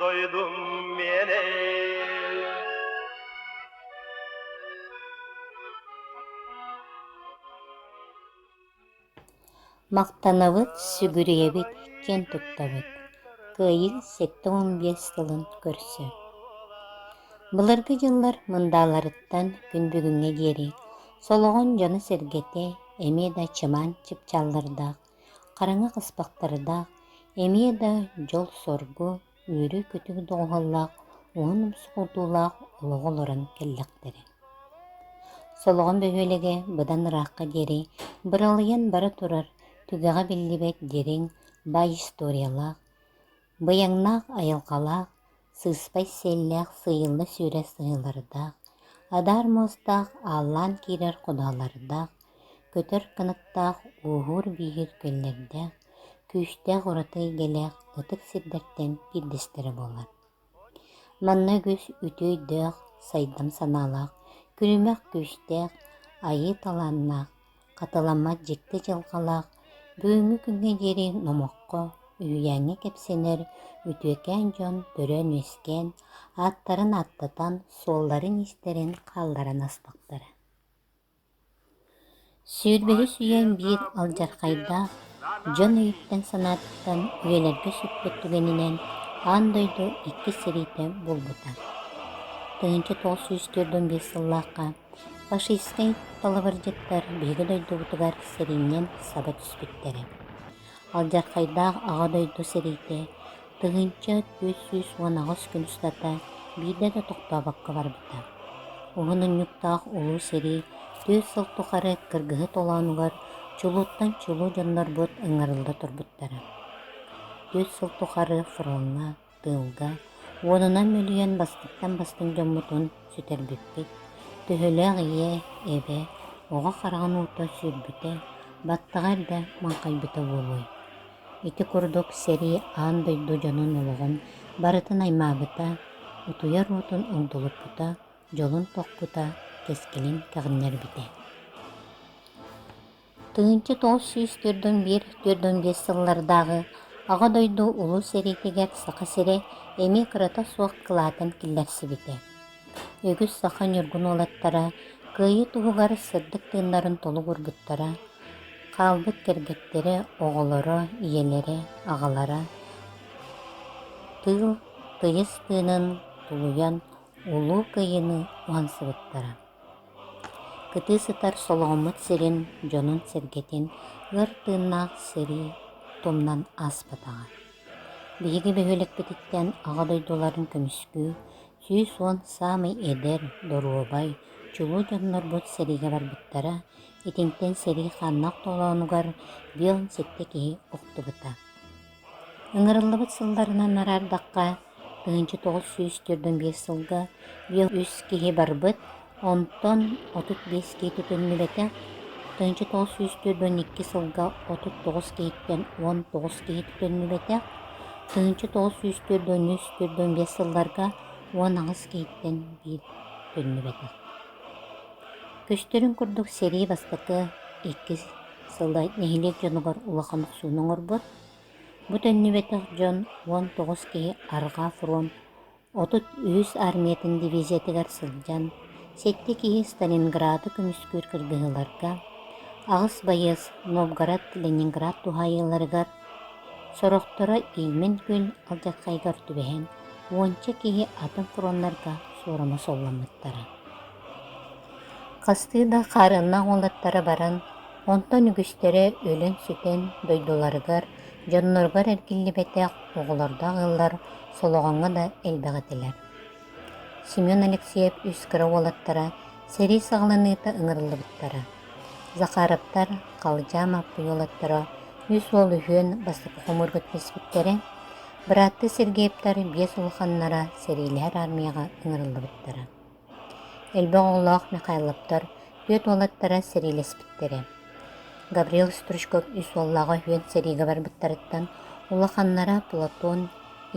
дойдум миэнэй Махтанабыт, сүгүрүйэбит, киэн туттабыт. Кыайыы сэттэ уон биэс сылын көрсө. Былыргы дьыллар мындааларыттан күн бүгүҥҥэ диэри солоҕон дьоно-сэргэтэ эмиэ да чымаан чыпчаллардаах Хараҥа хаспахтардаах, эмиэ да дьол-соргу, үөрүү-көтүү доҕуһаллаах уһун умсугурдуулаах олоҕу олорон кэллэхтэрэ. Солоҕон бөһүөлэгэ быдан ыраахха диэри быралыйан бара турар түгэҕэ биллибэт дириҥ бай историялаах, быйаҥнаах айылҕалаах, сыыспай сиэллээх сыыйылла сүүрэ сыһыылардаах адаар муостаах ааллаан киирэр кудалардаах көтөр кынаттаах ууһуур бииһир күллэрдээх күүстээх ураты эйгэлээх ытык сирдэртэн биирдэстэрэ буолар манна үгүс үтүө өйдөөх сайдам санаалаах күлүмэх күүстээх айыы талааннаах Хатыламмат дьикти дьылҕалаах бүгүҥҥү күҥҥэ диэри номоххо, үһүйээҥҥэ кэпсэнэр үтүөкээн дьон төрөөн-үөскээн, ааттарын ааттатан, суолларын-иистэрин хаалларан астахтара. Сүүрбэһис үйэм биир алдьархайдаах дьон өйүттэн-санааттан үйэлэргэ сүппүт түгэнинэн аан дойду иккис сэриитэ булбута. Тыһыынча тоҕус сүүс төрт он биэс сыллаахха Фашистнай талабырдьыттар биһиги дойдубутугар сэринньэн саба түспүттэрэ. Алдьархайдаах Аҕа дойду сэриитэ тыһыынча түөрт сүүс уон аҕыс күн устата биирдэ да тохтообокко барбыта. Уһунньуктаах улуу сэрии түөрт сыл тухары кыргыһыы толоонугар чулууттан чулуу дьоннорбут ыҥырылла турбуттара. Түөрт сыл тухары фроҥҥа тыылга уонунан мөлүйүөн бастыктан бастыҥ дьоммутун сүтэрбиппит. Төһөлөөх ийэ, эбэ, оҕо хараҕын уута сүүрбүтэ, баттаҕа эрдэ маҥхайбыта буолуой? Ити курдук сэрии аан дойду дьонун олоҕун барытын аймаабыта, утуйар уотун огдолуппута, дьолун тохпута, кэскилин кэҕиннэрбитэ. Тыһыынча тоҕус сүүс төрдүн биир төрдүн биэс сыллардааҕы Аҕа дойду Улуу сэриитигэр Саха сирэ эмиэ кырата суох кылаатын киллэрсибитэ. Үгүс саха ньургун уолаттара кыайыы туһугар сырдык тыыннарын толук уурбуттара, хаалбыт кэргэттэрэ, оҕолоро, ийэлэрэ, аҕалара тыыл тыйыс тыынын тулуйан улуу кыайыыны уһансыбыттара. Кытыы сытар солоҕуммут сирин дьонун-сэргэтин ыар тыыннаах сэрии тумнан ааспатаҕа. Биһиги бөһүөлэкпититтэн Аҕа дойдуларын көмүскүү сүүс уон саамай эдэр, доруобай, чулуу дьоннорбут сэриигэ барбыттара, итинтэн сэрии хааннаах толоонугар биэ уон сэттэ киһи охтубута. Ыҥырыллыбыт сылларынан араардахха, тыһыынча тоҕус сүүс түөртүн биэс сылга биэс үс киһи барбыт, онтон отут биэс киһи тутуллубэтэ. Тыһыынча тоҕус сүүс түөрт уон икки сылга отут тоҕус киһиттэн уон тоҕус киһи тутуллубэтэ. Тыһыынча тоҕус сүүс түөрт уон үс түөрт уон биэс сылларга уон аҕыс киһиттэн биир тутуллубэтэ. Көстөрүн курдук сэрии бастакы, иккис, Сыла нэһилиэк дьонугар улахан охсууну оҥорбут. Бу төннүбэтэх дьон уон тоҕус киһи арҕаа фронт отут үһүс армиятын дивизиятыгар сылдьан, сэттэ киһи Сталинграды көмүскүүр кыргыһыыларга, аҕыс байыас Новгород, Ленинград туһаайыыларыгар, сорохторо иимэн күн алдьархайыгар түбэһэн, уонча киһи атын фроннарга суорума солломмуттара. Хастыы да хаарыаннаах уолаттара баран, онтон үгүстэрэ өлөн-сүтэн, дойдуларыгар, дьонноругар эргиллибэтэх оҕолордоох ыаллар Солоҕоҥҥо да элбэх этилэр. Семен Алексеев үс кыра уолаттара сэрии саҕаланыыта ыҥырыллыбыттара. Захаровтар, Халдьаа Мааппый уолаттара үс уол үһүөн бастакы хомуурга түспүттэрэ, бырааттыы Сергеевтар биэс улаханнара сэриилэһэр армияҕа ыҥырыллыбыттара Элбэх оҕолоох Михайловтар түөрт уолаттара сэриилэспиттэрэ. Гаврил Стручков үс уоллааҕа үһүөн сэриигэ барбыттарыттан улаханнара Платон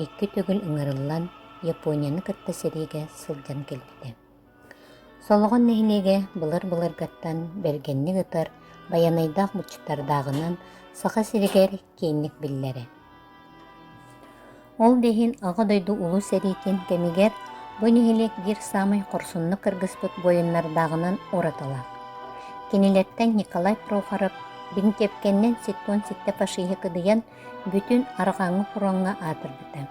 икки төгүл ыҥырыллан Японияны кытта сэриигэ сылдьан кэлбитэ. Солоҕон нэһилиэгэ былыр-былыргаттан бэргэнник ытар байанайдаах быччаттардааҕынан Саха сиригэр киинник биллэрэ. Ол да иһин Аҕа дойду Улуу сэриитин кэмигэр бу нэһилиэк биир саамай хорсуннук кыргыспыт буойуннардааҕынан уратылаах. Кинилэртэн Николай Прохоров Бинтепкэннэн ситтуон ситтэ фашиһы кыдыйан бүтүн арҕааҥҥы фроҥҥа аатырбыта.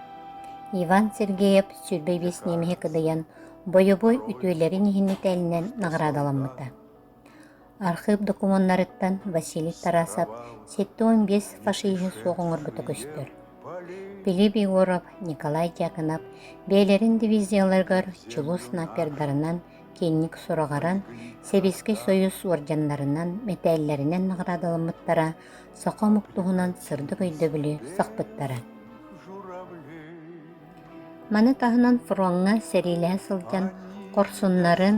Иван Сергеев сүүрбэ биэс немеһи кыдыйан бойобуой үтүөлэрин иһин нэтээлинэн наҕараадаламмыта. Архыып докумуоннарыттан Василий Тарасов сэттэ уон биэс фашиһы суох оҥорбута көстөр. Филипп Егоров, Николай Дьяконов бэйэлэрин дивизияларыгар чулуу снайпердарынан киинник сураҕаран, Сэбиэскэй Союз уордьаннарынан, мэтээллэринэн наҕараадаламмыттара, саха омук туһунан сырдык өйдөбүлү сахпыттара. Маны таһынан фроҥҥа сэриилэһэ сылдьан хорсуннарын,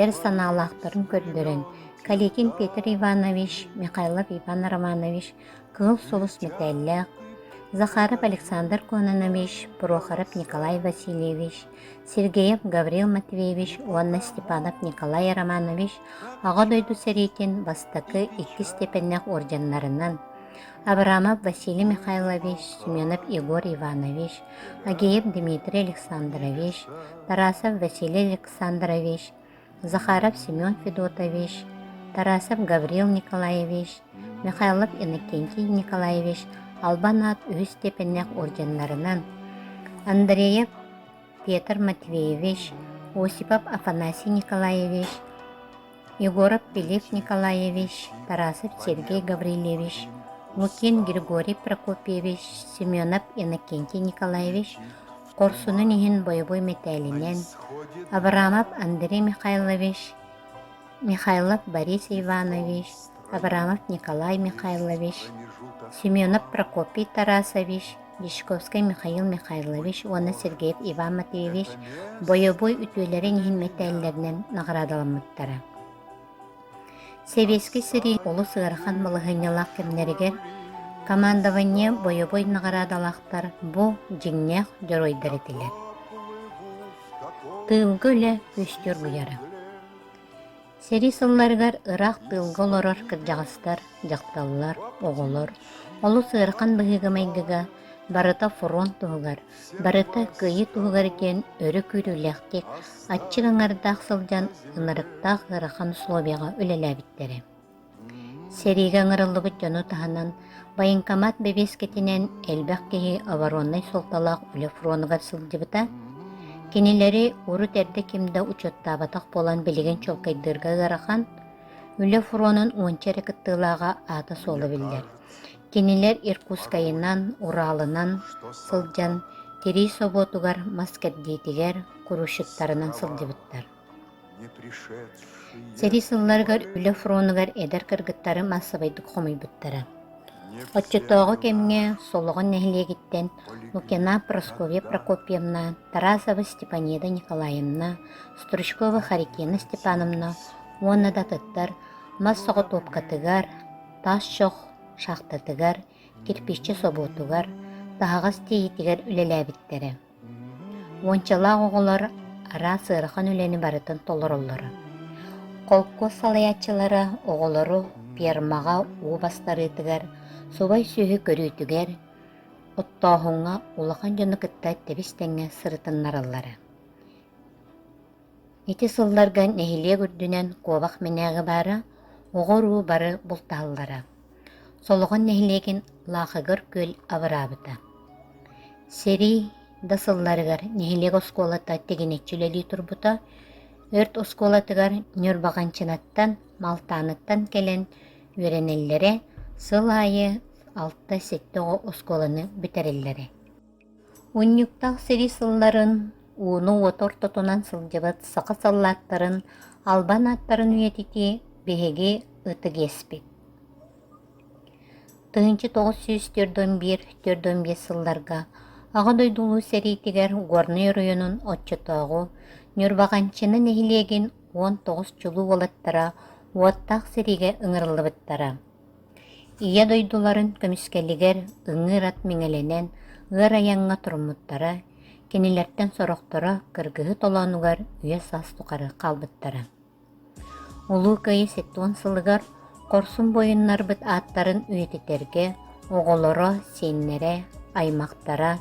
эр санаалаахтарын көрдөрөн Калитин Петр Иванович, Михайлов Иван Романович кыыл сулус мэтээллээх, Захаров Александр Кононович, Прохоров Николай Васильевич, Сергеев Гаврил Матвеевич уонна Степанов Николай Романович Аҕа дойду сэриитин бастакы иккис тэпэннэх орденнарынан, Абрамов Василий Михайлович, Семенов Егор Иванович, Агеев Дмитрий Александрович, Тарасов Василий Александрович, Захаров Семен Федотович, Тарасов Гаврил Николаевич, Михайлов Иннокентий Николаевич албан аат үһүс степеннээх орденнарынан Андреев Петр Матвеевич, Осипов Афанасий Николаевич, Егоров Филипп Николаевич, Тарасов Сергей Гаврильевич, Лукин Григорий Прокопьевич, Семенов Иннокентий Николаевич хорсунун иһин бойобуй мэтээлинэн, Абрамов Андрей Михайлович, Михайлов Борис Иванович, Абрамов Николай Михайлович, Семенов Прокопий Тарасович, Вишковскай Михаил Михайлович уонна Сергеев Иван Матвеевич бойобуой үтүөлэрин иһин мэтээллэринэн наҕараадаламмыттара. Сэбиэскэй сэрии олус ыарахан балаһыанньалаах кэмнэригэр командование бойобуой наҕараадалаахтар бу дьиҥнээх дьоруойдар этилэр. Тыылга үлэ үстүү оргуйара. Сэрии сылларыгар ыраах тыылга олорор кырдьаҕастар, дьахталлар, оҕолор олус ыарахан быһыыга-майгыга барыта фронт туһугар, барыта кыайыы туһугар диэн өрө күүрүүлээхтик, аччык аҥардаах сылдьан ынырыктаах ыарахан усулуобуйаҕа үлэлээбиттэрэ. Сэриигэ ыҥырыллыбыт дьону таһынан, военкомат бэбиэскэтинэн элбэх киһи обороннай суолталаах үлэ фронугар сылдьыбыта, кинилэри урут эрдэ ким да учуоттаабатах буолан билигин чуолкайдыырга ыарахан, үлэ фронун уонча эрэ кыттыылааҕа аата-суола биллэр. Кинилэр Иркутскайынан, Уралынан сылдьан, тирии собуотугар, мас кэрдиитигэр, курущиктарынан сылдьыбыттар. Сэрии сылларыгар үлэ фронугар эдэр кыргыттары маассабайдык хомуйбуттара. Оччотооҕу кэмҥэ Солоҕон нэһилиэгиттэн Лукина Прасковья Прокопьевна, Тарасова Степанеда Николаевна, Стручкова Харитина Степановна уонна да атыттар мас соҕотуопкатыгар, тас чох шахтатыгар, кирпиччэ собуотугар, таһаҕас тиэйиитигэр үлэлээбиттэрэ. Уончалаах оҕолор араас ыарахан үлэни барытын толороллоро. Холкуос салайааччылара оҕолору фермаҕа уу бастарыытыгар, субай-сүөһү көрүүтүгэр, оттооһуҥҥа улахан дьону кытта тэбис тэҥҥэ сырытыннараллара. Ити сылларга нэһилиэк үрдүнэн куобах мэнээгэ баара, оҕо-уруу бары бултаһаллара. Солоҕон нэһилиэгин Лаахыгар күөл абыраабыта. Сэрии да сылларыгар нэһилиэк оскуолата тигинэччи үлэлии турбута, өрт оскуолатыгар Ньурбаҕанчынаттан, Малтааныттан кэлэн үөрэнэллэрэ, сыл аайы алта-сэттэ оҕо оскуоланы бүтэрэллэрэ. Унньуктаах сэрии сылларын, ууну-уоту ортотунан сылдьыбыт саха саллааттарын албан ааттарын үйэтитии биһиги ытык иэспит. Тыһыынча тоҕус сүүс төрдөн биир төрдөн биэс сылларга Аҕа дойду Улуу сэриитигэр Горнай оройуонун оччотооҕу Ньурбаҕанчына нэһилиэгин уон тоҕус чулуу уолаттара уоттаах сэриигэ ыҥырыллыбыттара. Ийэ дойдуларын көмүскэлигэр ыҥыыр ат миҥэлэнэн ыар айаҥҥа туруммуттара, кинилэртэн сорохторо кыргыһыы толоонугар үйэ-саас тухары хаалбыттара. Улуу Кыайыы сэттэ уон сылыгар хорсун буойуннарбыт ааттарын үйэтитэргэ оҕолоро, сиэннэрэ, аймахтара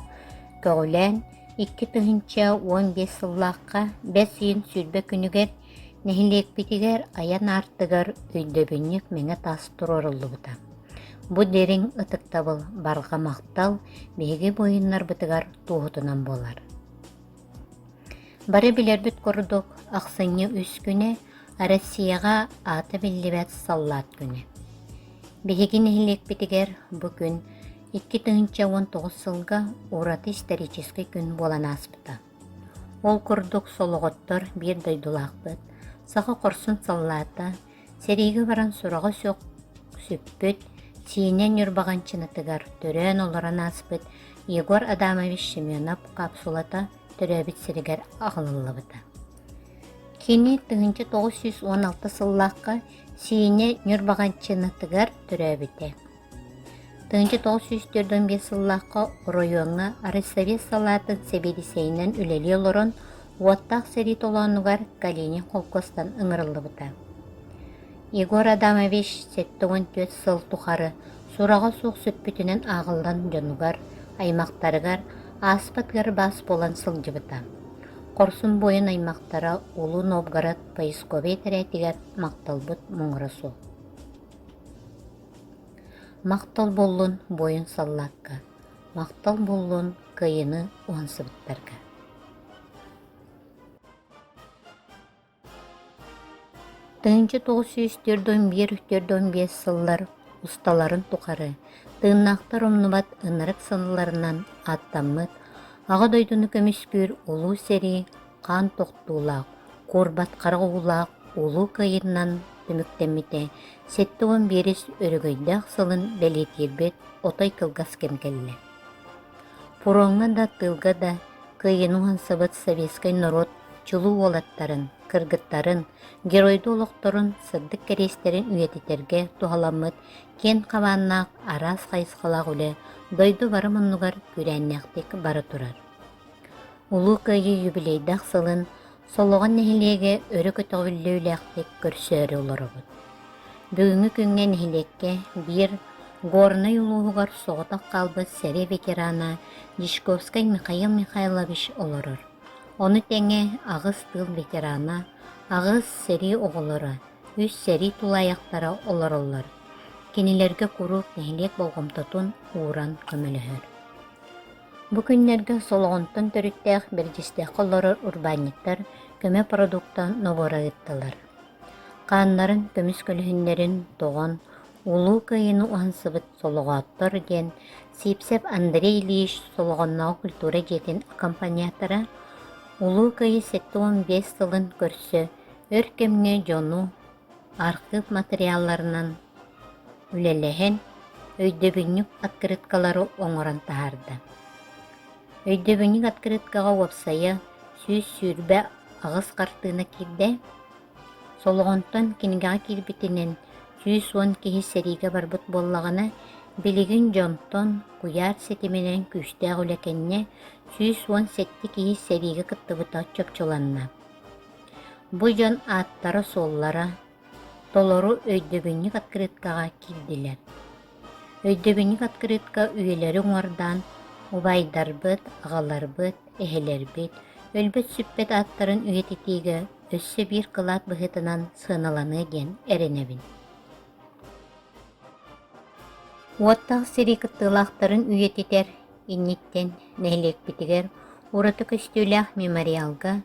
көҕүлээн икки тыһыынча уон биэс сыллаахха бэс ыйын сүүрбэ күнүгэр Нэһилиэкпитигэр айан аартыгар өйдөбүнньүк мэҥэ таас туруоруллубута. Бу дириҥ ытыктабыл, барҕа махтал биһиги буойуннарбытыгар туоһутунан буолар. Бары билэрбит курдук, ахсынньы үс күнэ Россияҕа аата биллибэт саллаат күнэ. Биһиги нэһилиэкпитигэр бу күн 2 тыһыынча уон тоҕус сылга ураты исторический күн буолан ааспыта. Ол курдук солоҕоттор биир дойдулаахпыт, саха хорсун саллаата, сэриигэ баран сураҕа суох сүппүт, Сиэнэ Ньурбаҕанчынатыгар төрөөн олорон ааспыт Егор Адамович Семенов капсулата төрөөбүт сиригэр аҕалыллыбыта. Кини тыһыынча тоҕус сүүс уон алта сыллаахха Сиэнэ Ньурбаҕанчынатыгар төрөөбүтэ. Тыһыынча тоҕус сүүс төрт уон биэс сыллаахха оройуоҥҥа арыссовет салаатын сэбиэдиссэйинэн үлэлии олорон уоттаах сэрии толоонугар Калинин холкуостан ыҥырыллыбыта. Егор Адамович сэттэ уон түөрт сыл тухары сураҕа суох сүппүтүнэн ааҕыллан дьонугар, аймахтарыгар ааспыт ыар баас буолан сылдьыбыта. Хорсун буойун аймахтара улуу Новгород поисковай этэрээтигэр махталбыт муҥура суох. Махтал буоллун буойун саллаакка, махтал буоллун кыайыыны уһансыбыттарга. Тыһыынча тоҕус сүүс төрт он биир төрт он биэс сыллар усталарын тухары тыыннаахтар умнубат ынырык саналарынан ааттаммыт Аҕа дойдуну көмүскүүр улуу сэрии хаан тохтуулаах, куорбат харах уулаах улуу кыайыынан түмүктэммитэ сэттэ уон биэс өрөгөйдөөх сылын бэлиэтиирбит отой кылгас кэм кэллэ. Фроҥҥа да, тыылга да кыайыыны уһансыбыт советскай норуот чулуу уолаттарын, кыргыттарын, геройду олохторун сырдык кэриэстэрин үйэтитэргэ туһаламмыт киэн хабааннаах араас хайысхалаах үлэ дойду бары муннугар күүрээннээхтик бара турар. Улуу Кыайыы юбилейдаах сылын Солоҕон нэһилиэгэ өрө көтөҕүллүүлээхтик көрсөөрү олоробут. Бүгүҥҥү күҥҥэ нэһилиэккэ биир Горнай улууһугар соҕотох хаалбыт сэрии ветерана Дьячковскай Михаил Михайлович олорор. Ону тэҥэ аҕыс тыыл ветерана, аҕыс сэрии оҕолоро, үс сэрии тулаайахтара олороллор. Кинилэргэ куруук нэһилиэк болҕомтотун ууран көмөлөһөр. Бу күннэргэ Солоҕонтон төрүттээх Бэрдьистэххэ олорор урбаанньыттар көмө продукта нобуора ыыттылар. Хааннарын, көмүс көлүһүннэрин тоҕон, Улуу Кыайыыны уһансыбыт солоҕооттор диэн сиипсэп Андрей Ильич Солоҕоннооҕу культура дьиэтин аккомпаниатора Улуу Кыайыы сэттэ уон биэс сылын көрсө өр кэмҥэ дьону архыып матырыйаалларынан үлэлэһэн, өйдөбүнньүк открыткалары оҥорон таһаарда. Өйдөбүнньүк открыткаҕа уопсайа сүүс сүүрбэ аҕыс хартыына киирдэ, солоҕонтон кинигэҕэ киирбитинэн сүүс уон киһи сэриигэ барбыт буоллаҕына, билигин дьонтон куйаар ситиминэн күүстээх үлэ кэннэ сүүс уон сэттэ киһи сэриигэ кыттыбыта чопчуланна. Бу дьон ааттара-суоллара толору өйдөбүнньүк открыткаҕа киирдилэр. Өйдөбүнньүк открытка үйэлэри уҥуордаан убайдарбыт, аҕаларбыт, эһэлэрбит, өлбүт-сүппүт ааттарын үйэтитиигэ өссө биир кылаат быһыытынан сыаналаныа диэн эрэнэбин. Уоттаах сэрии кыттыылаахтарын үйэтитэр инниттэн нэһилиэкпитигэр ураты көстүүлээх мемориалга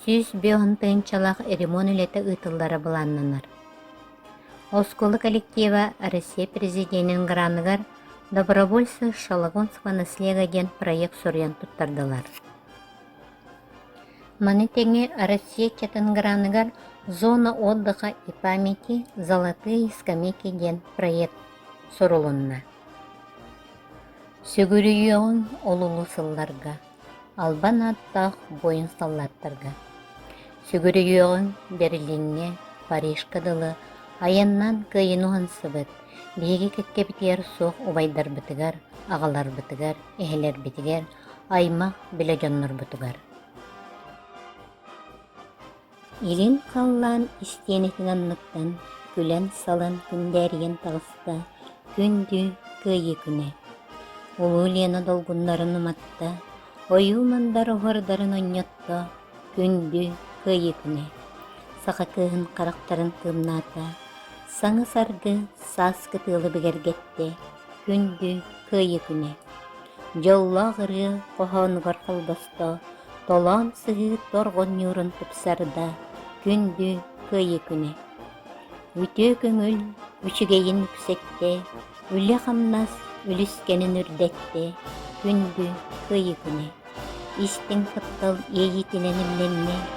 сүүс биэс тыһыынчалаах ремонт үлэтэ ыытыллара былааннанар. Оскуола коллектива Россия Президентин граныгар «Добровольцы Шалагонского наслега» диэн проект суруйан туттардылар. Маны тэҥэ Россия чатын граныгар «Зона отдыха и памяти. Золотые скамейки» диэн проект сурулунна. Сүгүрүйүөҕүҥ олулу сылларга, албан ааттаах воин-саллааттарга. Сүгүрүйүөҕүҥ Берлиҥҥэ, Парижка дылы айаннаан кыайан уһансыбыт, биһиги кэккэбитигэр суох убайдарбытыгар, аҕаларбытыгар, эһэлэрбитигэр, аймах-билэ дьоннорбутугар. Илин халлаан истиэнэтин анныттан күлэн-салан күндээрийэн таҕыста күндү Кыайыы күнэ. Улуу Лена долгуннарын уматта, ойуу Мандар оһуордарын онньотто күндү Кыайыы күнэ. Саха кыыһын харахтарын тыымнаата, саҥы-саргы саас кытыылы бигэргэттэ күндү Кыайыы күнэ. Дьоллоох ырыа хоһоонугар холбосто олордо, толоон сыһыыр торгонньуурун тупсарда, күндү кыайыы-күнэ. Үтүө көҥүл үчүгэйин үксэттэ, үлэ-хамнас үлүскэнин үрдэттэ, күндү кыайыы-күнэ. Истиҥ куттал иэйиитинэн имнэннэ,